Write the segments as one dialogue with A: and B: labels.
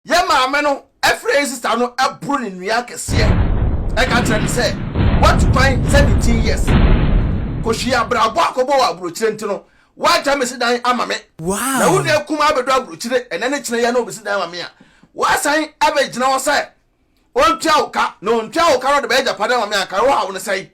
A: Yɛn maame no frɛ yɛn sista no boro ne nua akɛseɛ. Ɛka kyerɛ no sɛ, Woatu kwan 17 years kɔhwie abrabɔ a kɔbɔ wɔ aburokyire nti no, woagya me si dan ama me. Na wo nua
B: kumaa
A: abɛduru aburokyire ɛnɛ ne kyena yi a na ɔbɛsi dan ama me a, woasan abɛgyina hɔ sɛ ɔntua wo ka. Na ɔntua wo ka na ɔde bɛyɛ agyapadeɛ ama me a, anka wohaw no sɛn?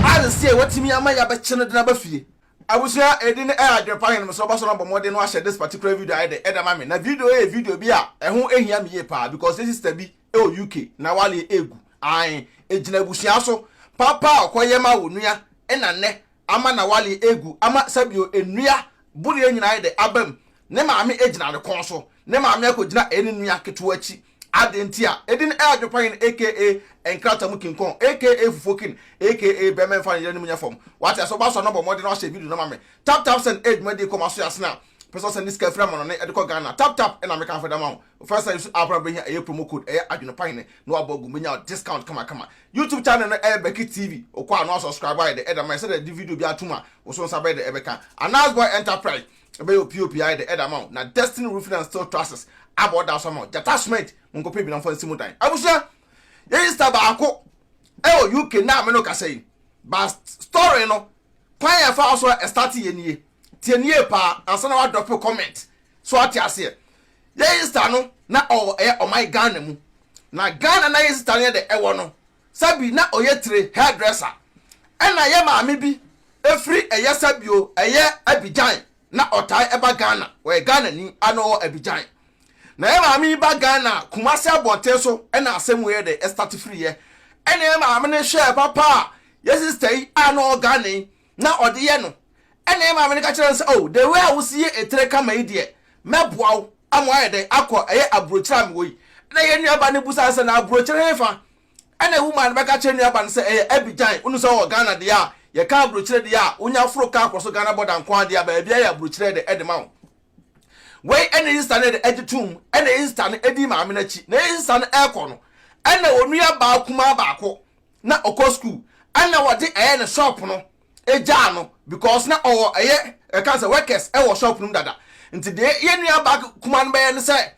A: Ade sesae a woatumi ama yɛabɛkye no de no aba fie. Abusua edin a Adwenpa Henem sɛ ɔbɛsɔ no abɔ mmɔden no ahyɛ this particular video ayɛ dɛ ɛdɛ ma me na video yi yɛ video bi a ɛho hia me yie paa because yɛ sister bi wɔ UK na waleɛ egu ae egyina abusua so papa a ɔkɔ yɛ ma onua ɛna nnɛ ama na waleɛ egu ama sɛbio nnua boleɛ nyina ayɛ dɛ abam Ne maame agyina ne kɔn so. Ne maame akɔgyina ɛne nua ketewa akyi. Adɛn nti a? Edin ɛ adwopahen aka nkrata mu kinkɔn aka fufokin aka bɛmɛ mfa ne yere anim nyɛ fam. Wate ase? Ɔbaa so a na bɔ mmɔden na wahyɛ video no ma me. Tap Tap Send ɛ dwumadie kɔ ma so yɛ asen a pɛ sɛ ɔsɛn ne sika afiri amanɔne de kɔ Ghana. Tap Tap na meka mfa da ma wo. Wo first time so app no a wobɛhia ɛyɛ promo code ɛyɛ adwenepahene na wabɔ agu mu bɛnya wo discount kama kama. YouTube channel no ɛyɛ Becky TV. Wokɔ a na wasubscribe ayɛ dɛ ɛde ama yɛ sɛdeɛ yɛde video biara tom a wo so nsa bɛyɛ dɛ ɛbɛka. Anaz Boy Enterprise. Ɛbɛyɛ opie opie ayɛ dɛ ɛda ama wo na Destiny Roofing and Steel Trusses abɔ ɔda so ama wo. Gyata Cement, monkɔpɛ bi na momfa nsi mo dan. Abusua, yɛyi star baako ɛwɔ UK nnɛ a me ne wo kasa yi. Ba story no, kwan a ɛfaa so a ɛstarte yɛ nie. Tie no yie paa ansa na woadrɔpe comment. So ate aseɛ? Yɛyi star no na ɔwɔ ɛyɛ ɔman Ghana mu. Na Ghana na yɛyi star no yɛ dɛ ɛwɔ no, Sabi na ɔyɛ tire, hairdresser, ɛna yɛ maame bi firi ɛyɛ Sabio ɛyɛ Abidjan na ɔtae ba Ghana, ɔyɛ Ghanani a na ɔwɔ Abidjan. Na yɛ maame yi ba Ghana Kumasi abɔnten so ɛna asɛm wei de start firi yɛ, ɛna yɛ maame no hwɛɛ papa a yɛ sister yi a na ɔwɔ Ghana yi na ɔde yɛ no, ɛna yɛn maame no ka kyerɛ no sɛ, Oh, the way a wosi yɛ etire kama yi deɛ, mɛboa wo ama woayɛ dɛn akɔ ɛyɛ aburokyire a mewɔ yi. Ɛna yɛn nuabaa no bisa no sɛ, Na aburokyire hefa? Ɛna woman no bɛka kyerɛ nuabaa no sɛ, Ɛyɛ Abidjan, wonu sɛ wɔ Ghana deɛ a, yɛka aburokyire deɛ a, wonya foro kaa kɔ so Ghana bɔda nko ara deɛ a, baabiara yɛ aburokyire de ɛde ma wo. Wei ɛna Isita no de ɛgye toom, ɛna Isita no ɛdi maame no akyi, na Isita no ɛrekɔ no, ɛna onuabaa kumaa baako na ɔkɔ school ɛna wɔde ɛyɛ ne shop no egyaa no because na ɔwɔ ɛyɛ ɛka sɛ workers ɛwɔ shop no mu dada nti deɛ yɛn nua baa kuma no bɛyɛ no sɛ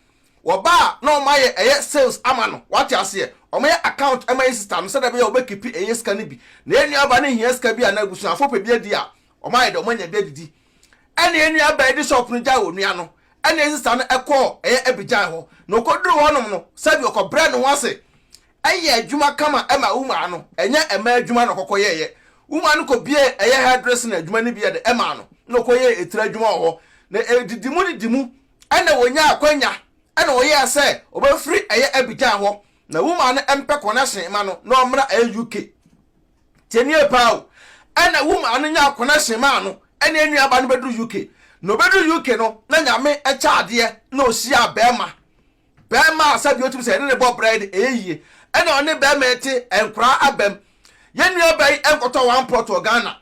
A: wɔbaa na wɔn ayɛ ɛyɛ sales ama no wate aseɛ wɔn ayɛ account ɛma yɛn sister no sɛdeɛ ɛbɛyɛ wɔbɛ kipi ɛyɛ sika no bi na yɛn nua baa no hia sika bi a na abusuafo pɛ bi adi a wɔn ayɛ dɛ wɔn anya bi adidi ɛna yɛn nua baa ɛde shop no gyae wɔ nua no ɛna yɛn sister no ɛkɔɔ ɛyɛ ɛbigyae hɔ na ɔkɔduru hɔ nom no sɛbi ɔkɔbrɛ ne ho ase yɛ adwuma kama ma wo maa no, ɛnyɛ mmaa adwuma na ɔkɔkɔ yɛeɛ. Wo maa no kɔ biee ɛyɛ hair dressing adwuma no bi de maa no na ɔkɔ yɛɛ etire adwuma wɔ hɔ na ɛdidi mu didi mu ɛna ɔnyaa akwanya ɛna ɔyɛɛ sɛ ɔbɛfiri ɛyɛ Abidjan hɔ na wo maa no mpɛ connection ma no na ɔmmra ɛyɛ UK tie nie paa o ɛna wo maa no nyaa connection maa no ɛne ɛnua ba no bɛduru UK na ɔbɛduru UK no na nyame kyɛ adeɛ na ɔhyiaa bɛɛma Bɛɛma a sɛdeɛ ɔtumi sɛ yɛne ne bɔ brɛ no ɛyɛ yie ɛna ɔne bɛɛma ɛte ɛnkoraa abam yɛn nua bɛyi ɛnkɔtɔ one plot wɔ Ghana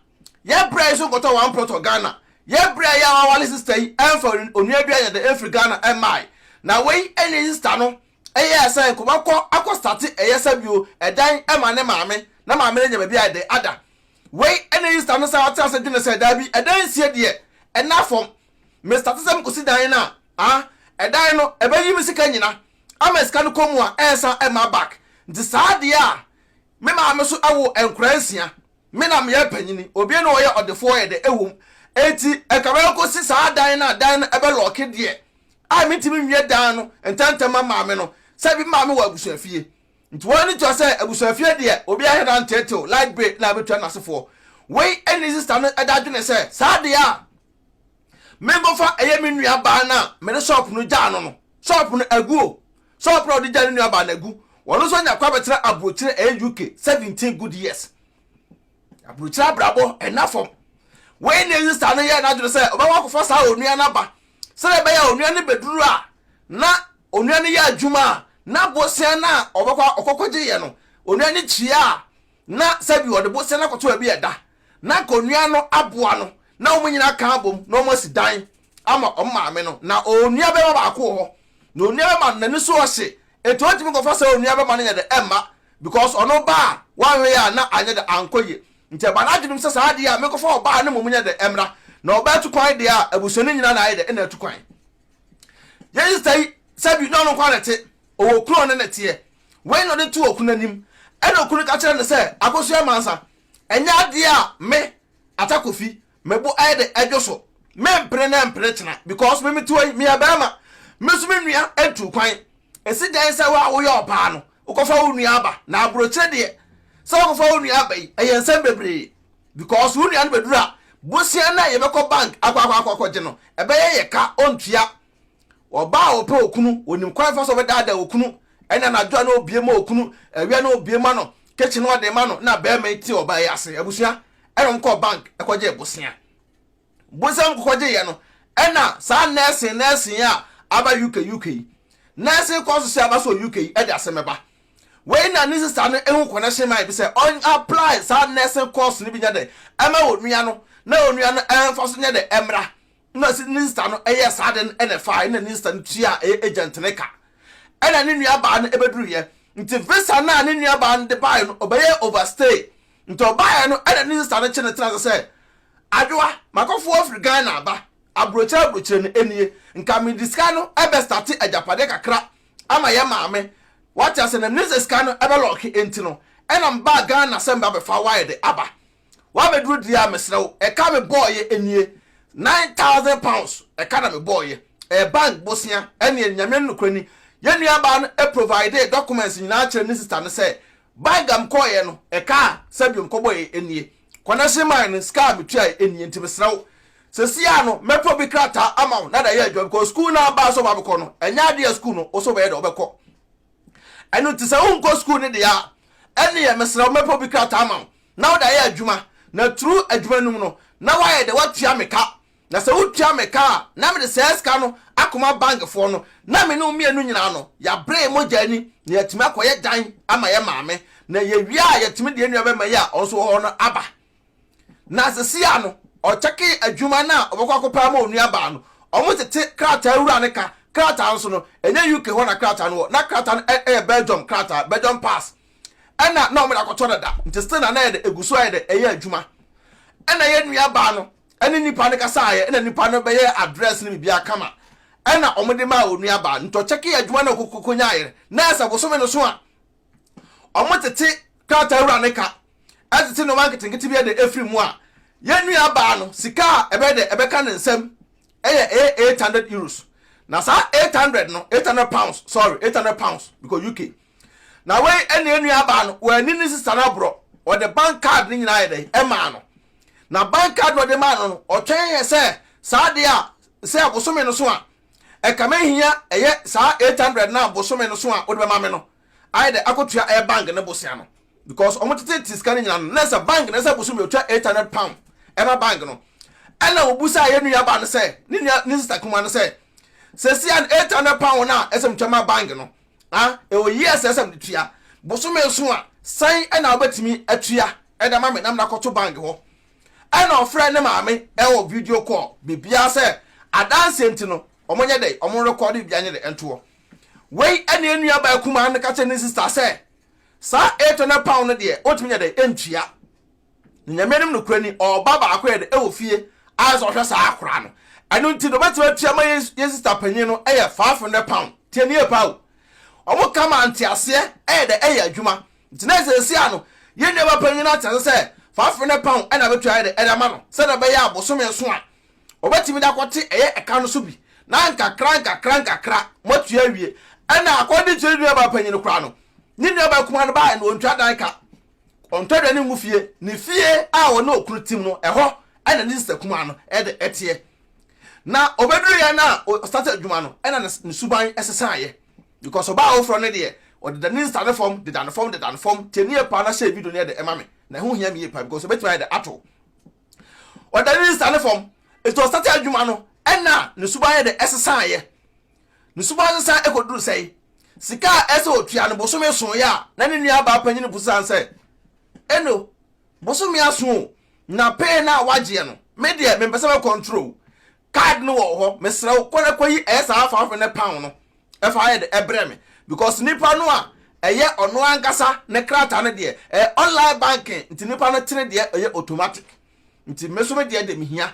A: yɛ brɛ yi so nkɔtɔ one plot wɔ Ghana yɛ brɛ yi a wawale sister yi ɛnfa onua bi ayɛdɛ ɛnfiri Ghana ɛmmae na wei ɛne sister no ɛyɛɛ sɛ nkɔbɛkɔ akɔ starte ɛyɛ sɛbio ɛdan ɛma ne maame na maame no anya baabi ayɛdɛ ada wei ɛne sister no san atena ase dwene sɛ daabi ɛdan nsie deɛ ɛna fam Me starte sɛ mekɔsi dan no a ah ɛdan no ɛbɛyi me sika nyina ama sika no kɔ mu a ɛnsan ɛmma back nti saa deɛ a me maame nso ɛwo nkora nsia me na meyɛ panyini obie na ɔyɛ ɔdefoɔ yɛ dɛ ɛwom ɛnti ɛnka mɛkɔsi saa dan no a dan no ɛbɛ lɔke deɛ a mentimi nwie dan no ntɛntɛm ma maame no sɛ me maame wɔ abusuafie nti wɔn ani tua sɛ abusuafie deɛ obi ahwɛ na ntetew light bay na abɛtua nasefoɔ wei ɛne sista no ɛda adwene sɛ saa deɛ a menkɔfa ɛyɛ me nua baa no a mede shop no gyaa no no shop no agu o shop no a ɔde gyaa ne nua baa no agu wɔn nso anya kɔ abɛtena aburokyire ɛyɛ UK seventeen good years aburokyire abrabɔ ɛna fam wei na esi saa no yɛ n'adwene sɛ ɔbɛkɔ akɔfa saa onua no aba sɛdeɛ ɛbɛyɛ onua no bɛduru a na onua no yɛ adwuma a na bosia no a ɔbɛkɔ ɔkɔkɔgye yɛ no onua no kyia a na sɛbi ɔde bosea no akɔto baabi a ɛda, na anka onua no aboa no na wɔn nyinaa aka abom na wɔasi dan ama wɔn maame no. Ná onua barima baako wɔ hɔ, na onua barima no, n'ani so ɔhye, enti ontumi nkɔfa saa onua barima no nyɛ dɛ mma, because ɔno ba a wanhwɛ a na anyɛ dɛ ankɔ yie. Nti ɛbaa n'adwene mu sɛ saa adeɛ a menkɔfa ɔbaa no mmom nyɛ dɛ mmra, na ɔbaa tu kwan deɛ a abusuani nyinaa na ayɛ dɛ na atu kwan. Yei sista yi, sɛbi na ɔno nko ara na ɛte. Ɔwɔ kunu a ɔne no teɛ. Wei na ɔde to okunu anim. Ɛna okunu ka kyerɛ no sɛ, Akosua Mansa, ɛnyɛ adeɛ a me, Ata Kofi, me bo ayɛ dɛ adwo so. Mempere na ɛmpere kyena because me metewa yi, meyɛ barima. Me nso me nua ntuu kwan. Ɛsi dɛn sɛ wo a woyɛ ɔbaa no, wokɔfa wo nua ba? Na aburokyire deɛ, sɛ wokɔfa wo nua ba yi, ɛyɛ nsɛm bebree. Because wo nua no bɛduru a, bosea no a yɛbɛkɔ bank akɔ akɔ akɔ akɔgye no, ɛbɛyɛ yɛ ka, ɔntua. Ɔbaa a ɔpɛ okunu, onim kwan fa so ɔbɛdaadaa okunu. Ɛna anadwo a na obie ma okunu, awia na obie ma no, kitchen na ɔde ma no, na bɛrima yi te ɔbaa yi ase. Abusua, ɛna wɔn kɔɔ bank ɛkɔgye bosea. Bosea wɔn kɔkɔgye yɛ no, ɛna saa nɛɛsen nɛɛsen yi a aba UK UK yi, nɛɛsen kwan so sɛ aba so wɔ UK yi ɛde asɛm ɛba. Wei na ne sista no ehu connection ma ebi sɛ ɔn apply saa nɛɛsen course no bi nyɛ dɛ ɛma onua no, na onua no ɛnfa so nyɛ dɛ ɛmra. Nna se ne nsta no yɛ saa ade no na ɛfaae na ne nsta no tua a ɛyɛ agent no ka. Ɛna ne nuabaa no bɛduruiɛ. Nti visa no a ne nuabaa no de baaeɛ no ɔbɛyɛɛ overstay. Nti ɔbaaeɛ no ɛna ne nsta no kye no tena ase sɛ, Adwoa, makɔfoɔ afiri Ghana aba, abrokyire abrokyire no nie. Nka mede sika no bɛ starte agyapadeɛ kakra ama yɛn maame. Wate aseɛ? Na menim sɛ sika no bɛ lɔɔke nti no ɛna mebaa Ghana sɛ meba bɛfa wire de aba. W'abɛduru deɛ a mesrɛ wo ɛka me bɔɔyɛ nie nine thousand pounds ɛka na me bɔɔyɛ ɛyɛ bank bosea ɛneɛ Nyame no nokorɛ ni yɛn nua baa no providee documents nyinaa kyerɛ ne sister no sɛ bank a mekɔɔyɛ no ɛka a sɛdeɛ mekɔbɔɔyɛ nie connection mae no sika a metuaeɛ nie nti mesrɛ wo sesie a no mɛtɔ bi krataa ama wo na de ayɛ adwuma because school no a baa sɛ ɔbɛkɔ no ɛnyɛ adeɛ a school no wo sɛ wobɛyɛ dɛ wobɛkɔ ɛno nti sɛ wonkɔ school no deɛ a ɛneɛ mesrɛ wo mɛtɔ bi krataa ama wo. na wode ayɛ adwuma, na tru adwuma no mu no na wayɛ dɛ watua me ka, na sɛ wotua me ka a na mede saa sika no akɔma bankfoɔ no, na me ne wo mmienu nyinaa no yɛabre yɛn mogya ani na yɛatumi akɔyɛ dan ama yɛn maame, na yɛwie a yɛatumi de yɛn nuabarima yi a ɔno nso wɔ hɔ no aba. Na sesia no ɔkyɛkee adwuma no a ɔbɛkɔ akɔpɛ ama onuabaa no, wɔtete krataa wura no ka, krataa nso no ɛnyɛ UK hɔ na krataa no wɔ, na krataa no yɛ Belgium krataa, Belgium pass, ɛna na wɔde akɔtɔ dada nti still na na ɛyɛ dɛ egu so ayɛ dɛ ɛyɛ adwuma ɛna yɛ nua baa no ɛne nipa no kasa ayɛ ɛna nipa no bɛyɛɛ address no biribiara kama ɛna wɔde maa onua baa no nti ɔkyɛke yɛ adwuma na ɔkokoko nyaayɛ na ayɛ sɛ bosome no so a wɔn tete krataa wura ne ka ɛtete nneɛma nketenkete bi ɛde efiri mu a yɛ nua baa no sika a ɛbɛyɛ dɛ ɛbɛka ne nsam ɛyɛ ɛyɛ eight hundred euros na saa eight hundred no eight hundred pounds sorry eight hundred pounds because UK. Na wei na yɛn nuabaa no, wɔani ne sista no aborɔ. Ɔde bank card no nyinaa yɛ dɛn? Ɛmaa no. Na bank card na ɔde maa no no, ɔtwɛn yɛ sɛ saa adeɛ a sɛ abosome no so a, ɛka mɛhia ɛyɛ saa 800 no a bosome no so a wode bɛma me no, ayɛ dɛ akɔtua ɛyɛ bank no bosea no. Because wɔn tete te sika no nyinaa no, na sɛ bank no sɛ bosome ɔtwa 800 pound ɛma bank no. Ɛna wɔbusaa yɛn nuabaa no sɛ, ne nua ne sista kuma no sɛ, sɛsi a 800 pound no a ɛsɛ motwa ma bank no, a ɛwɔ yie a sɛ sɛ mede tua bosome nson a sɛn na wobɛtumi atua de ama me na mede akɔto bank hɔ ɛna ɔfrɛ ne maame ɛwɔ video call biribiara sɛ adanseɛ nti no wɔn nyɛ dɛ wɔn rekɔde biribiara nyɛ dɛ ntoɔ wei ɛne nua baa kumaa no ka kyɛ ne sista sɛ saa 800 pound no deɛ wɔtumi nyɛ dɛ ntua na nyame nom no kura ni ɔba baako yɛ dɛ ɛwɔ fie ayɛ sɛ ɔhwɛ saa akora no ɛno nti na ɔbɛtumi atua ma yɛn yɛn sista panyin no ɛyɛ 500 pound tie ne yɛ paa o ɔmo ka ma nteaseɛ ɛyɛ dɛ ɛyɛ adwuma nti na ɛsɛ ɛsi ano yɛn nuaba panyin no atease sɛ 500 pound ɛna bɛtua ayɛ dɛ ɛde ama no sɛdeɛ ɛbɛyɛ a bosome nso a ɔbɛtumi de akɔte ɛyɛ ɛka no so bi na nkakra nkakra nkakra moatua awie ɛna akɔde kyerɛ nuaba panyin no koraa no ne nuaba kuma no baa na ɔntua dan ka Ɔntɔ aduane ngu fie. Ne fie a ɔne okunu tem no, ɛhɔ na ne sista kumaa no de teɛ. Na ɔbɛduruiɛ no a ɔstartee adwuma no na ne suban sesaeɛ because ɔbaa foforɔ no deɛ, ɔdeda ne nsa no fam, deda no fam, deda no fam. Tie no yie paa na share video no yɛ dɛ ma me. Na ɛho hia me yie paa because ɛbɛtumi ayɛ dɛ ato wo. Ɔdeda ne nsa no fam, nti ɔstartee adwuma no na ne suban yɛ dɛ sesaeɛ. Ne suban sesa kɔduru sɛn? Sika a ɛsɛ sɛ ɔtua no bosome nson yɛ a, na ne nuabaa panin bu sane sɛ, Eno, bosome aso o, na pee no a woagyeɛ no, me deɛ mempɛ sɛ mɛkɔntoro o. Card no wɔ hɔ, mesrɛ wo, kɔ na kɔyi ɛyɛ saa five hundred pound no fa yɛ dɛ brɛ me, because nipa no a ɛyɛ ɔno ankasa ne krataa no deɛ, ɛyɛ online banking nti nipa no tene deɛ ɛyɛ automatic. Nti me nso me deɛ deɛ mehia.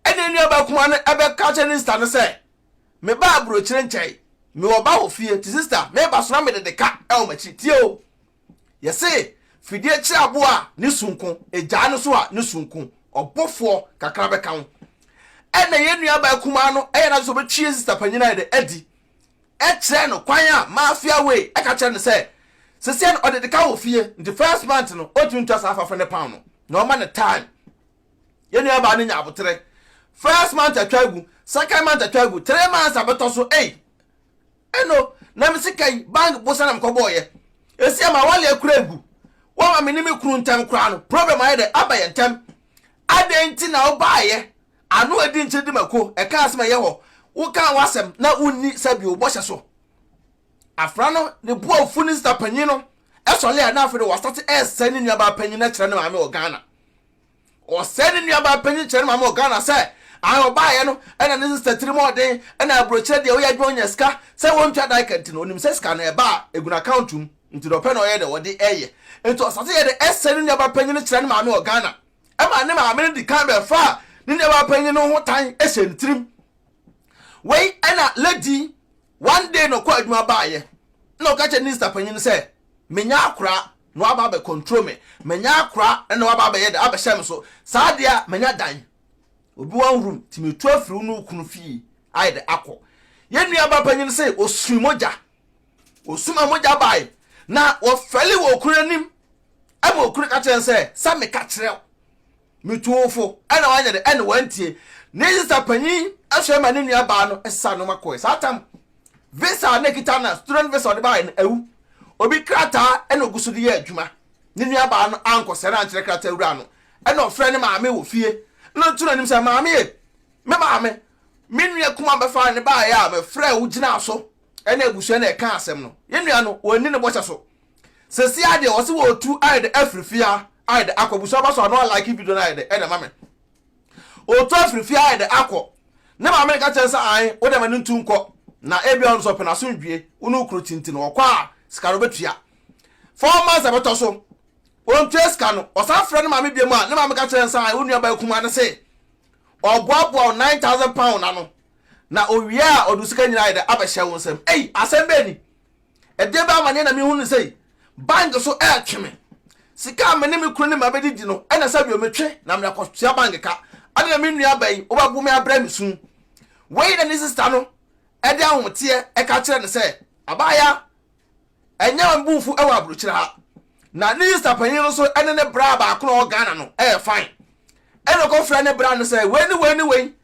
A: Ɛnna nuabaa kumaa no bɛka kyerɛ ne sista no sɛ, Me ba aburokyire nkyɛe Me wɔ ba wɔ fie Ti sista me ba sona me de de ka ɛwɔ makyi Tie o Yɛ se fidie kye abo a ne su nko Egyaa no so a ne su nko Ɔbo foɔ kakra bɛ ka ho Ɛna yɛ nua baa kumaa no yɛ na adwe sɛ ɔbɛ twi yɛ sista panyin ayɛ dɛ adi kyerɛ no kwan a Mafia wei ka kyerɛ no sɛ seseɛ no ɔde de ka wɔ fie Nti first month no ɔntumi ntua saa afafo ne pound no Na ɔma no time Yɛn nuabaa no nya aboterɛ. First month atwa agu, second month atwa agu, three months abɛtɔ so, ei! Ɛno, na me sika yi, bank bosa na mekɔbɔɔyɛ. Ɛsi ama awale akura agu. Wama me ne me kunu ntɛm koraa no, problem ayɛ dɛ, aba yɛn ntɛm. Adɛn nti na wobaeɛ? Ano adi nkyere di mako, ɛka asɛm ɛyɛ hɔ. Wokaa w'asɛm na wonni sɛbi wo bɔhyɛ so. Afra no, ne bo afu ne sista panyin no sɔle a na afei de wastate ɛresɛe ne nuabaa panyin no akyerɛ ne maame wɔ Ghana. Ɔsɛe ne nuabaa panyin kyerɛ ne maame wɔ Ghana sɛ ae ɔbaeɛ no na ne sista tirim wɔ den na aburokyerɛ deɛ ɔyɛ adwuma ɔnya sika sɛ wɔntua daika nti no ɔnim sɛ sika no ɛba a ɛgu n'account mu nti deɛ ɔpɛ na ɔyɛ deɛ ɔde ɛyɛ nti ɔsate yɛ de ɛsɛe ne nuabaa panyin no kyerɛ ne maame wɔ Ghana ɛma ne maame no dikan bɛfaa ne nuabaa panyin no ho tan hyɛ ne tirim wei ɛna lady One day na ɔkɔɔ adwuma baeɛ na ɔka kyerɛ ne nista panyin no sɛ, Manya akoraa na waba abɛ control me, manya akoraa na waba abɛyɛ dɛ abɛhyɛ me so, saa deɛ a manya dan, obi one room nti metu afiri wo ne wo kunu fie ayɛ dɛ akɔ. Yɛn nuabaa panyin se ɔsui mogya, ɔsuma mogya bae na ɔfɛle wɔ okunu anim ɛma okunu ka kyerɛ no sɛ, sɛ meka kyerɛ wo Me tuofo, ɛna wanyɛ dɛ, ɛna wantie. Ne sista panyin soɛ ma ne nua baa no sesaa nnoɔma kɔɛ. Saa tam, visa a na ɛkita no a, student visa a ɔde baeɛ no, awu. Obi krataa ɛna ɔgu so de yɛ adwuma. Ne nua baa no ankɔsrɛ no ankyerɛ krataa wura no. Ɛna ɔfrɛɛ ne maame wɔ fie. Ɛna ɔtu n'anim sɛ, Maame e! Me maame! Me nua kumaa bɛfaa no baeɛ a, mefrɛɛ wo gyinaa so ne abusua na yɛkaa asɛm no. Yɛn nua no, wanni ne bɔhyɛ so. Sɛsi ara deɛ wɔse wɔretu ayɛ dɛ afiri fie a ayɛ dɛ akɔ busuaba so ano a like video no ayɛ dɛ ɛna ɛma me ɔretu afiri fie ayɛ dɛ akɔ ne maame no ka kyɛn sɛ ae wo deɛ ma no ntu nkɔ na ebia ɔno sɛ ɔpɛ n'asomdwie wo ne okunu tinti no ɔkɔ a sika no bɛtua four months ɛbɛtɔ so ɔntua sika no ɔsan frɛ ne maame biam a ne maame ka kyɛn sɛ ae wo nuabaa kumaa no se ɔboaboa nine thousand pound ano na owie a ɔde sika nyinaa ayɛ dɛ abɛhyɛ wo nsam ei asɛm bɛɛ ni Ɛdeɛ bɛɛ amaneɛ na mehu no sɛ yi, bang so ɛretwe me. Sika a me ne me kunu ne mma bɛde di no na sɛ awie metwe na mede akɔtua bang ka. Adɛn na me nua bɛn wobɛbo me abrɛ me su? Wei na ne sista no de ahoteɛ ɛka kyerɛ no sɛ, Abaayaa, ɛnyɛ wɔn bo mfu wɔ aburokyire ha. Na ne sista panyin no nso ne ne bra baako na ɔwɔ Ghana no ɛyɛ fine. Ɛna ɔkɔfrɛ ne bra no sɛ wei ne wei ne wei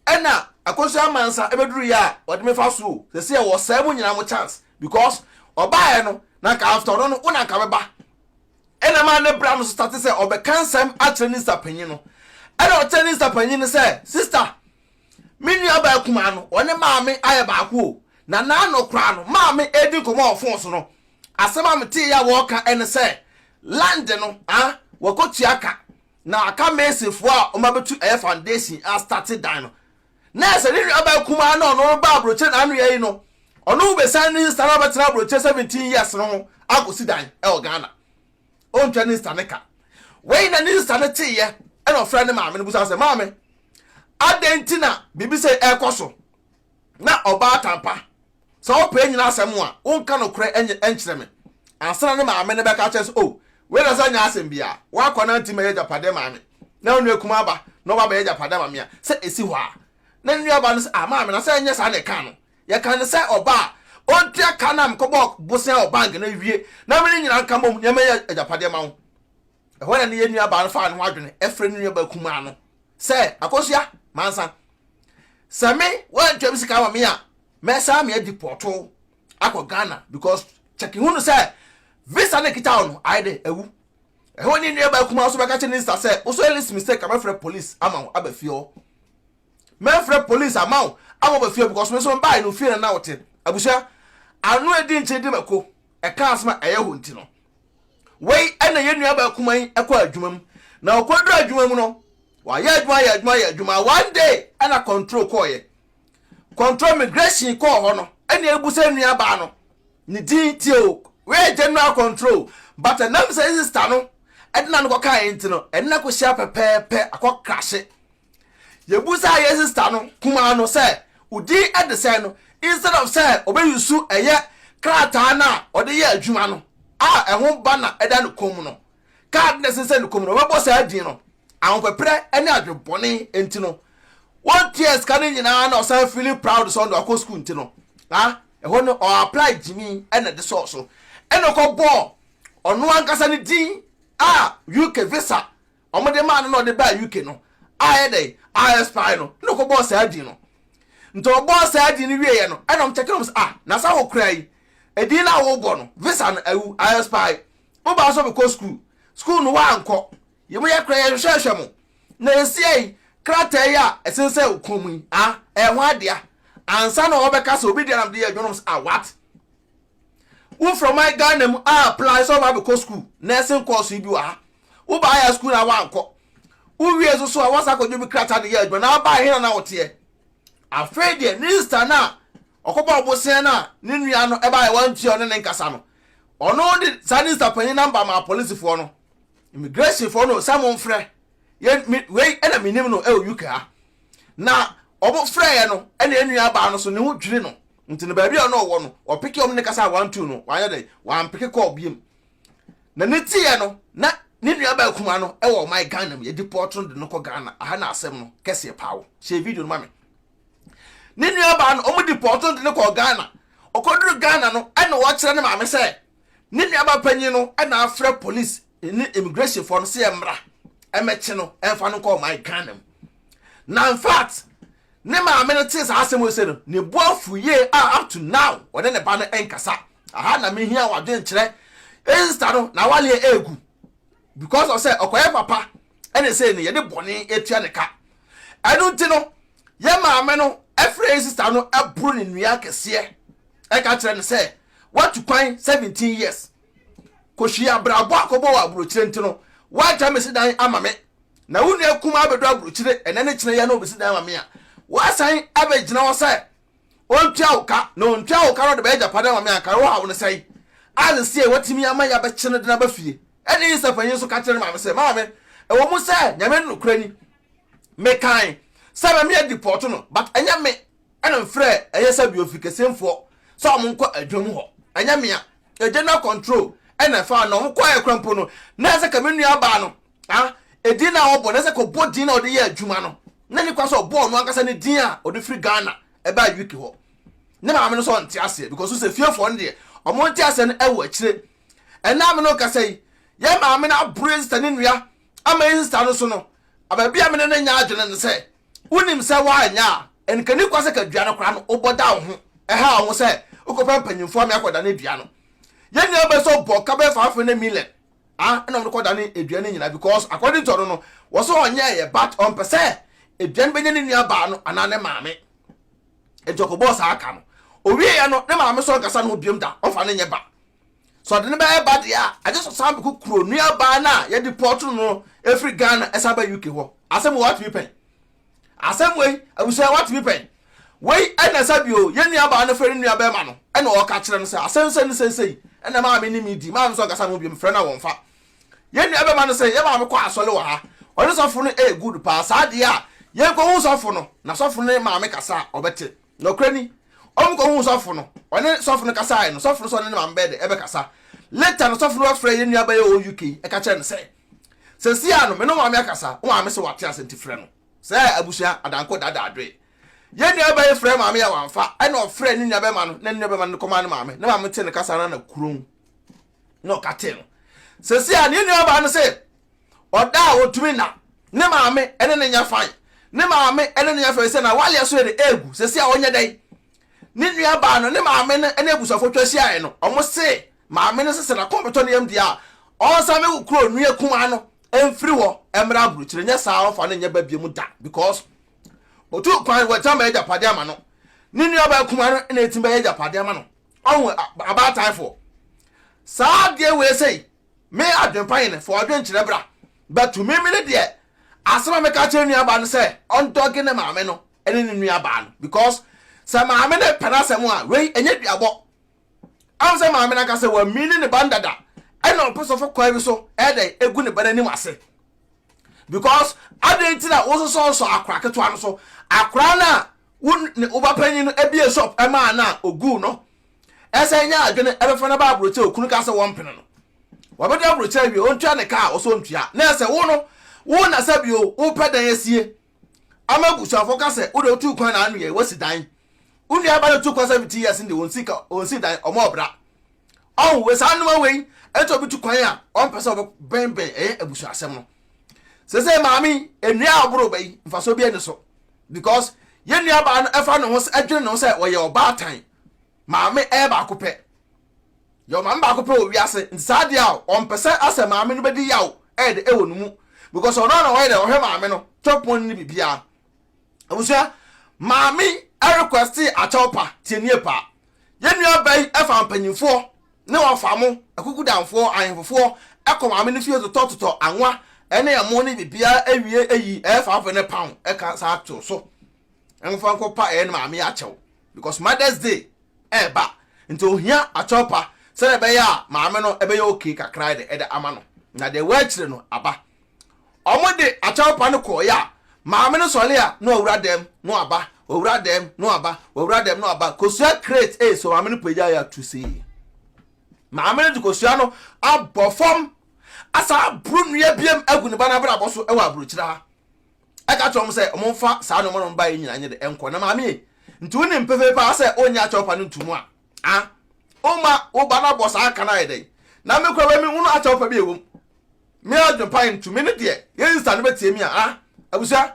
A: Ɛna akosua amansa ɛbɛduru yɛ a ɔde me fa so o sɛsɛ wɔ sɛɛ mo nyina mo chance because ɔbaeɛ no na nka after ɔno no wo na nka bɛba ɛna ɛma ne bra no so starte sɛ ɔbɛka nsɛm akyerɛ ne sista panyin no ɛna ɔkyerɛ ne sista panyin no sɛ sista me nua baa kumaa no ɔne maame ayɛ baako o na naano koraa no maame ɛdi nkɔmɔ wɔ fon so no asɛm a metee yɛ a wɔɔka ɛne sɛ land no ah wɔkɔtua ka Na aka masonfoɔ a wɔabɛtu ɛyɛ foundation astate dan no. Na ɛsɛ ne nuabaa kumaa na ɔno reba aburokyire na ano yɛ yi no, ɔno bɛsan ne sista no abɛtena aburokyire seventeen years no ho akɔsi dan wɔ Ghana. Ɔntwa ne sista no ka. Wei na ne sista no teeɛ ɛna ɔfrɛ ne maame no busa sɛ, maame, adɛn nti na biribi sei ɛrekɔ so? Na ɔbaatan pa, sɛ wopɛ anyina asɛm a, wonka nokorɛ nkyerɛ me, ansa na ne maame no bɛka akyerɛ no sɛ, 'O, wei na ɛsɛ nyɛ asɛm bi a, w'akoa no antim mmɛyɛ agyapadeɛ mmaa me, na wo nua kumaa ba na ɔba abɛyɛ agyapadeɛ ama me a, sɛ ɛsi hɔ a? Na ne nuabaa no se, 'A, maame, na sɛ ɛnyɛ saa na ɛkaa no? Yɛkaa no sɛ ɔba a ɔntua ka no a mekɔbɔɔ bosea wɔ bank na awie na me ne nyina nka mmom na ɛmmɛyɛ agyapadeɛ mma wo. Ɛhɔ na ne yɛn nuabaa no faa ne ho adwene frɛɛ ne nuabaa kumaa no sɛ, Akosua, mansa. Sɛ me woantua me sika ama me a, mɛsan me adi pɔɔto akɔ Ghana because kyɛke hu no sɛ visa na ɛkita wo no, ayɛ dɛ awu. Ɛhɔ ne nuabaa kumaa nso bɛka kyerɛ ne sista sɛ, Wo so yɛ this mistake a mɛfrɛ police ama wo aba fie hɔ. Mɛfrɛ police ama wo ama aba fie because me nso mebaeɛ no fie na na wote. Abusua, ano adi nkyene di mako, ɛka asɛm a ɛyɛ hɔ nti no. Wei na yɛn nuabaa kumaa yi kɔɔ adwuma mu, na ɔkɔduru adwuma mu no, wayɛ adwuma ayɛ adwuma ayɛ adwuma. One day ɛna control kɔɔyɛ. Control immigration kɔɔ hɔ no, ɛna ebu sɛ nuabaa no ne din tie o, wei yɛ general control. But ɛnam sɛ sister no ɛde na no kɔkaeɛ nti no, ɛne no akɔhyia pɛpɛɛpɛ akɔ krahye. Yebusaa yɛn sista no kumaa no sɛ odin de sɛn no instead of sɛ ɔbɛ use ɛyɛ krataa no a ɔde yɛ adwuma no a ɛho ba na ɛda ne kɔn mu no. Card no a ɛsensɛn ne kɔn mu no ɔbɛbɔ saa din no. Ahopeprɛ ne adwebɔne nti no ɔntuaa sika no nyinaa na ɔsan feeli proud sɛ ɔno ɔkɔ school nti no na ɛhɔ no ɔ apply gyimi na ɛde sɔɔ so ɛna ɔkɔ bɔɔ ɔno ankasa ne din a UK visa wɔde maa no na ɔde baa UK no ayɛ dɛn a-expire no na ɔkɔbɔɔ saa din no. Nti ɔbɔɔ saa din no wieeɛ no ɛna wɔkyɛke no wɔn sɛ ah na saa wokura yi edin no a wobɔ no visa no awu, a-expire. Wobaa sɛ wobɛkɔ sukuu, sukuu no woankɔ. Yɛmu yɛ kora yɛhwehwɛhwɛ mo na ɛsia yi krataa yi a ɛsensɛn wo kɔn mu yi ah ɛyɛ ho adea ansa na wɔbɛka sɛ obi deɛ na mede yɛ adwuma no wɔn sɛ ah what? wo from my Ghana mu a apply sɛ ɔma abɛkɔ school nursing course yi bi wɔ ha wo baa yɛ school na wankɔ wo wie nso so a wasa kɔdwo bi krataa de yɛ adwuma na abaa yɛ hena na woteɛ afei deɛ ne sista no a ɔkɔbɔ ɔbosea no a ne nua no ɛbaa yɛ wantua ɔne ne nkasa no ɔno de saa ne sista panyin namba maa polisifoɔ no immigration foɔ no sɛ mo mfrɛ yɛ me wei ɛna menim no ɛwɔ UK ha na ɔmo frɛ yɛ no ɛna enua baa no so ne ho dwiri no Nti no baabi a na ɔwɔ no, wɔpeke wɔn ne ne kasa a wɔantu no, wɔanyɛ dɛn, wɔampeke kɔɔ biom. Na ne tieɛ no, na ne nuabaa kumaa no wɔ ɔman Ghana mu, yɛdi pɔɔto no de no kɔ Ghana, aha na asɛm no kɛseɛ paa wɔ, hyɛ video no ma me. Ne nuabaa no, wɔdi pɔɔto no de no kɔɔ Ghana, ɔkɔduru Ghana no, ɛna wɔkyerɛ ne maame sɛ, ne nuabaa panyin no na afrɛ police ne immigration foɔ no sɛ ɛmmra, ɛmmɛkye no, ɛmfa no nkɔ ɔman Ghana mu. Na in fact, Ne maame no tee saa asɛm a ose no, ne bo afuw yie a up to now ɔne ne ba no nkasa. Aha na mehia w'adwenkyerɛ. Insta no n'awale yɛ regu because of sɛ ɔkɔyɛ papa ɛne sei no yɛde bɔne atua ne ka. Ɛno nti no yɛ maame no frɛ yɛ sister no boro ne nua kɛseɛ ɛka kyerɛ no sɛ watu kwan 17 years. Kɔhwie abrabɔ akɔbɔ wɔ aburokyire nti no woagya me si dan ama me na wo nua kumaa bɛdɔ aburokyire ɛnɛ ne kyerɛ yɛ na ɔbɛsi dan ama me a woasan abɛgyina hɔ sɛ ɔntua wo ka na ɔntua wo ka no de bɛyɛ gyapadeɛ ama me a nka wohaw no sɛe a sesie watumi ama yɛabɛkye no de no aba fie ɛne Isa panyin nso ka kyerɛ ne maame sɛ maame ɛwɔ mu sɛ nyame no nokorɛ ni mekan sɛ mɛme adipɔto no but ɛnyɛ me ɛna mfrɛ ɛyɛ sɛ bi ofikɛsɛmfoɔ sɛ ɔmo nkɔ adwa mu hɔ ɛnyɛ mea ɛgye na control ɛna ɛfaa no ɔmo kɔɛ kora mpo no na ɛsɛ ka me nua baa no a ɛdin na ɔbɔ na ɛsɛ ka ɔbɔ din na ɔde yɛ adwuma no na ne kwa sɛ ɔbɔ ɔno ankasa ne din a ɔde firi Ghana ɛbaa UK hɔ ne maame no sɛ ɔnte aseɛ because sɛ fiefoɔ no deɛ ɔmo nte aseɛ no ɛwɔ akyire ɛna me no kasa yi yɛ maame no aboro ɛsɛ ne nua Ama eyi sesa no so no, aba bi a me ne no nyɛ adwene ne sɛ, Wunim sɛ woanyɛ a, ɛnka nni kwa sɛ ka dua no koraa no, wobɔ da wo ho, ɛha wo ho sɛ wokɔpɛ mpanyimfo ama yɛakɔdane dua no. Yɛn nuabea nso bɔ ka bɛyɛ fafre ne Milen a ɛna wɔde kɔdanee dua no nyinaa because according to ɔno no, wɔse ɔnyɛeɛ but ɔmpɛ sɛ dua no bɛnya ne nuabaa no anaa ne maame. Enti ɔkɔbɔɔ saa ka no. Owieeɛ no, ne maame nso ankasa ne ho biom da, ɔmfa no nyɛ ba. Sɛ ɔde no bɛyɛ ba deɛ a, agye sɛ ɔsan bɛkɔ kuro nuabaa no a yɛdepɔɔto no no firi Ghana san ba UK hɔ. Asɛm wei woatumi pɛn? Asɛm wei, abusua woatumi pɛn? Wei ɛna sɛ bio, yɛn nuabaa no frɛ ne nuabɛrima no ɛna ɔreka kyerɛ no sɛ asɛm sɛ ne seisei ɛna maame ne me di, maame nso ankasa mo biom frɛ no a wɔmfa. Yɛn nuabɛrima no sɛ yɛn maame kɔ asɔre wɔ ha, ɔne sɔfo no ɛyɛ good paa, saa deɛ a yɛnkɔhu sɔfo no na sɔfo no ne maame kasa a ɔbɛte. Nokorɛ ni, wɔn kɔhuu sɔfo no, wɔne sɔfo no kasaɛ no, sɔfo no sɛ ɔne ne maame bɛyɛ dɛ bɛkasa. Later no sɔfo no bɛfrɛɛ yɛn nua bɛyɛ ɔwɔ UK yi ɛka kyerɛɛ no sɛ, Sɛsi ara no me ne wo maame akasa, wo maame se wate ase nti frɛ no. Sɛɛ abusua adanko daadaa dwee. Yɛn nua bɛyɛ frɛɛ maame yɛ wamfa, ɛna ɔfrɛɛ ne nua bɛma no na ne nua bɛma no de kɔmaa ne maame, ne maame tee no kasa no ara na kuromm. na ɔka tee no sɛsi a ne nuabaa no sɛ ɔda a ɔtumi na ne maame ne ne nya fan ne maame ne ne nya fan sɛ na waleɛ so yɛ de ɛɛgu sɛsi a ɔnyɛ dɛn ne nuabaa no ne maame no ne abusuafo twa hyiaeɛ no ɔmo se maame no sɛ sɛ nakɔmpetɔ no yam deɛ a ɔnsa me wo kuro nua kumaa no mfiri hɔ mmra aburukyire nyɛ saa ɔmfa no nyɛ ba bie mu da because ɔtu kwan wɔatim bɛyɛ gyapadeɛ ama no ne nuabaa kumaa no na ɛtim bɛyɛ gyapadeɛ ama no ɔho abaataefoɔ saa adeɛ wei sei me adwempa yene fo ɔdwen kyerɛ bra but me mene deɛ asɛm a meka kyerɛ nuabaa no sɛ ɔndɔge ne maame no ɛne ne nuabaa no because sɛ maame no pɛ no asɛm a wei ɛnyɛ duabɔ am sɛ maame no aka sɛ wami ne ne ba ndada ɛna ɔpɛ sɔfo kwan bi so ɛdɛ egu ne ba no anim ase because adɛn nti na wososɔsɔ akora ketewa no so akora no a Wo ne wo ba panyin no bue shop ma a na oguu no ɛsan nya adwene ɛbɛfa no aba abrokyire okunu ka sɛ wɔmpene no wɔbɛdɔ abrokyire awie ontua ne ka a ɔsɛ ontua na ɛsɛ wo no wo na sɛ bio wopɛ dan asie ama abusuafo ka sɛ wode wotu kwan na anwea yi wasi dan wo nua ba no tu kwan sɛ fifty years nde onsi ka onsi dan ɔmo ɔbra Ɔho wɔ saa nnoma wei ɛti obi tu kwan a ɔmpɛ sɛ ɔbɛbɛnbɛn ɛyɛ abusua asɛm no sese maame nnua a ɔboro bɛyi mfasoɔ bi ɛni so because yɛn nua baa no ɛfa ne ho sɛ ɛdwene ne ho sɛ ɔyɛ ɔbaatan maame ɛyɛ baako pɛ yɛ ɔmaame baako pɛ wɔ wiase nti saa deɛ a ɔmpɛ sɛ asɛ maame no bɛdi yaw ɛyɛ de ɛwɔ no mu because ɔno na ɔyɛ dɛ ɔhwɛ maame no tɔpon ne biribiara abusua maame ɛrequesti akyɛw pa tie nie pa yɛn nua ba yi ɛfa mpanyinfoɔ ne wɔn fa mo akukudanfoɔ ahemfofoɔ ɛkɔ maame ne fie totɔ totɔ anwa ɛne ɛmo ne bibia ɛwie ɛyi ɛfa ɔfɛ ne pound ɛka saa to so ɛmofa nkɔ pa ɛyɛ ne maame akyɛw because mother's day ɛɛba nti ohia akyɛw pa sɛdeɛ ɛbɛyɛ a maame no ɛbɛyɛ okay kakra ɛde ɛde ama no na deɛ ɛwɔ akyire no aba Ɔmo de akyɛw pa no kɔɔeɛ a, maame no sɔre a na wawura dɛm na waba, wawura dɛm na waba, wawura dɛm na waba, kosua crate ee so maame no pagyae a tu see. Maame no de kosua no abɔ fam asan aboro nnua biam agu ne ba no abrabɔ so wɔ aburokyire ha. Ɛka kyerɛ ɔmo sɛ ɔmo mfa saa nneɛma no ɔmo baeɛ nyinaa nyɛ dɛ ɛnkɔ na maame ee nti wonim pefee paa sɛ ɔnyɛ akyɛw pa no nto mu a Ah wo ma wo ba no abɔ saa ka no ayɛ dɛn na me koraa me hunu akyɛw pa bi a ɛwɔ mu me adwene pa ntu me ne deɛ yɛnsa no bɛtie me a ah abusua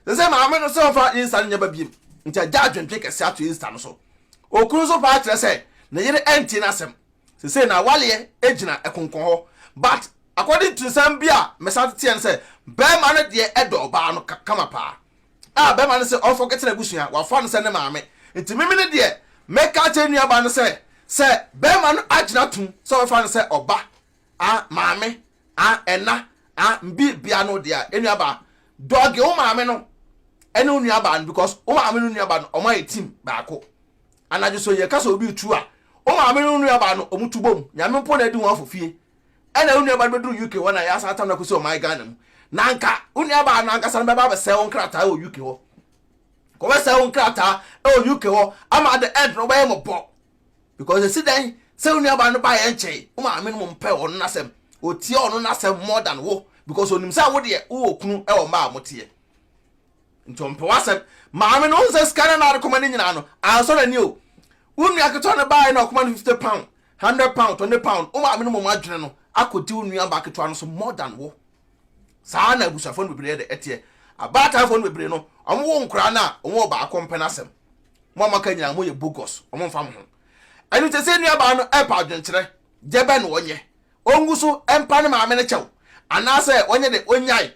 A: sɛ sɛ maame no sɛ ɔmfa yɛnsa no nyɛ ba biem nti agya adwentwe kɛse ato yɛnsa no so okunu nso paa kyerɛ sɛ ne yere ɛntie n'asɛm sɛ sɛ na awaleɛ ɛgyina ɛkonkɔn hɔ but according to nsɛm bi a mɛsan teteɛ no sɛ bɛrima no deɛ ɛdɔ ɔbaa no kama paa a bɛma no sɛ ɔmfa nkɛtena abusua, wafa no sɛ ne maame. Nti meme no deɛ, mɛka akyerɛ ne nuabaa no sɛ, sɛ bɛma no agyina atom sɛ ɔbɛfa no sɛ ɔba, a maame, a ɛna, a mbi bia no deɛ a, enuabaa, dɔge wo maame no ɛne wo nuabaa no because wo maame ne wo nuabaa no, ɔmo ayɛ team baako. Anadwo so yɛ ka sɛ obi retu a, wo maame ne wo nuabaa no ɔmo tu bom, Nyame mpo na adi ho afofie. ɛna wo nuabaa no bɛduru UK hɔ na yɛasan atam no akɔsi ɔman Ghana mu na anka wo nuabaa no ankasa no bɛba abɛsɛe wo nkrataa wɔ UK hɔ kɔbɛsɛe wo nkrataa wɔ UK hɔ ama the end no wobɛyɛ mɔbɔ because ɛsi dɛn sɛ wo nuabaa no baeɛ nkyɛe wo maame no mu mpɛ ɔno n'asɛm ɔtie ɔno n'asɛm more than wo because onim sɛ wo deɛ wowɔ kunu wɔ mmaa a moteɛ Nti ɔmpɛ w'asɛm. Maame no, wohu sɛ sika no na ade kɔma no nyinaa no, ansɔ n'ani o. Wo nua ketewa no baeɛ na ɔkɔma no fifty pound, hundred pound, twenty pound. Wo maame no mmom adwene no akɔdi wo nuabaa ketewa no so more than wo. Saa na abusuafoɔ no bebree de ɛteɛ. Abaataefoɔ no bebree no, wɔwo nkwadaa no a, wɔn ɔbaako mpɛ n'asɛm. Mo a moaka nyinaa, moyɛ bogus, wɔmfa mo ho. Ɛno nti ɛsɛ nuabaa no ɛpɛ adwenkyerɛ, deɛ bɛn na ɔnyɛ? Ɔngu so mpa ne maame no kyɛw, anaasɛ ɔnyɛ dɛ, ɔnnyae?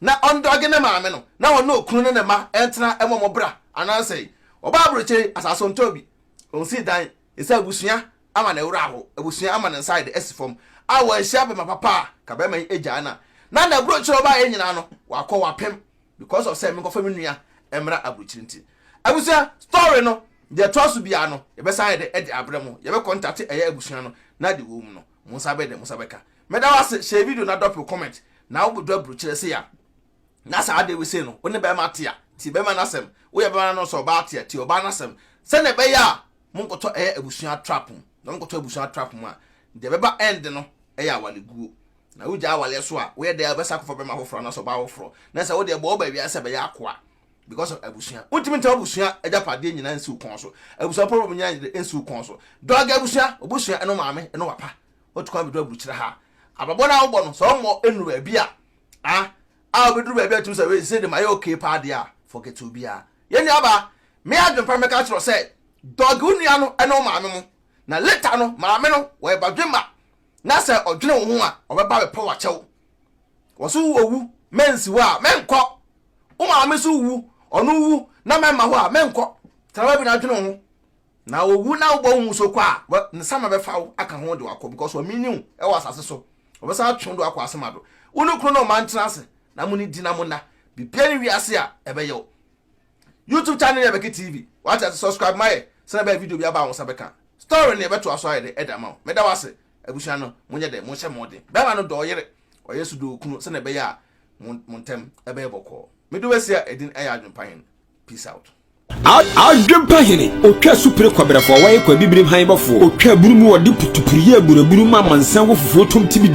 A: na ɔndɔge ne maame no na ɔne okunu ne ne mma ntena mmɔ mo bra anaasɛ ɔbaa aburokyire yi asaase ɔntɔ bi ɔnsi dan ɛsɛ abusua ama ne wura hɔ abusua ama ne nsa yɛde asi fam a wɔanhyia bɛma papa a ka bɛma yi agyaa na na na aburokyire ɔbaa yɛ nyinaa no wakɔ wapem because of sɛ menkɔfa me nua mmra aburokyire nti abusua story no deɛ ɛtoa so biara no yɛbɛsan yɛde ɛde abrɛ mo yɛbɛkɔntate ɛyɛ abusua no na de wɔ mu no mo nsa bɛde mo nsa bɛka Meda wo ase share video na drop wo comment na wo do abrukyere se ya na saa de we se no wo ne bɛɛma te a tie bɛɛma no asɛm wo yɛ bɛɛma no nso ɔbaa te a tie ɔbaa no asɛm sɛdeɛ ɛbɛyɛ a mo nkɔtɔ ɛyɛ abusua trap mu na mo nkɔtɔ abusua trap mu a deɛ ɛbɛba end no ɛyɛ awale guo na wo gya awale so a wo yɛ dɛɛ bɛsa kɔfa bɛɛma foforɔ anaasɛ ɔbaa foforɔ na sɛ wo deɛ bɔ wo ba wiase sɛ bɛyɛ akoa because of abusua wo ntumi ntɛm abusua agyapadeɛ nyinaa nsi wo kɔn so abusua problem nyinaa nsi wo kɔn so dɔgɛ abusua obusua ɛno maame ɛno papa Wotu kwan bɛduru aburukyerɛ ha. Abrabɔ no a wobɔ no, sɛ ɔmmɔ nnuru baabi a, a, a wobɛduru baabi a wotumi sɛ, wei, sei de mayɛ okay paa deɛ a, forget obiara. Yɛn nuabaa, me adwempa no mɛka akyerɛ wo sɛ, dɔge wo nua no ne wo maame mo. Na later no, maame no, wɔyɛ badwemma, na sɛ ɔdwene wo ho a, ɔbɛba abɛpɛ wo akyɛ wo. Wɔ so wowu, mɛnsi hɔ a, mɛnkɔ. Wo maame nso wu, ɔno wu, na mɛmma hɔ a, mɛnkɔ. Tena baabi na dwene wo ho. Na owu na wobɔ wo mu so kɔ a, wɛ, ne sama bɛfa wo aka ho de wo akɔ, because wɔamenyi wo wɔ asase so, wɔbɛsan atwe wo de wo akɔ asema do. Wo ne kunu ne ɔma ntena ase, na mo nni na mo nna. Biribiara nni wiase a ɛbɛyɛ wo. YouTube channel yɛ Becky TV, wate ase, subscribe ma yɛ, sɛnea ɛbɛyɛ video biara ba a wo nsa bɛka a, story no yɛbɛtoa so ayɛ dɛ de ama wo. Meda wo ase, abusua no, monyɛ dɛ, monhyɛ mmɔden. Barima no dɔ ɔyere, ɔyere nso dɔ okunu, sɛnea ɛbɛyɛ a mo, mo ntam bɛyɛ bɔkɔɔ. Mede wo asia, edin yɛ Adwempa Hene. Peace out. Adwempa
B: hene, otwa supire kɔbrɛfoɔ, wɔyɛ kɔ abibirim han bɔfoɔ, otwa aburu mu wɔde putupuriyɛ aburaburu ma amansan wɔ fufuo tom tibidi.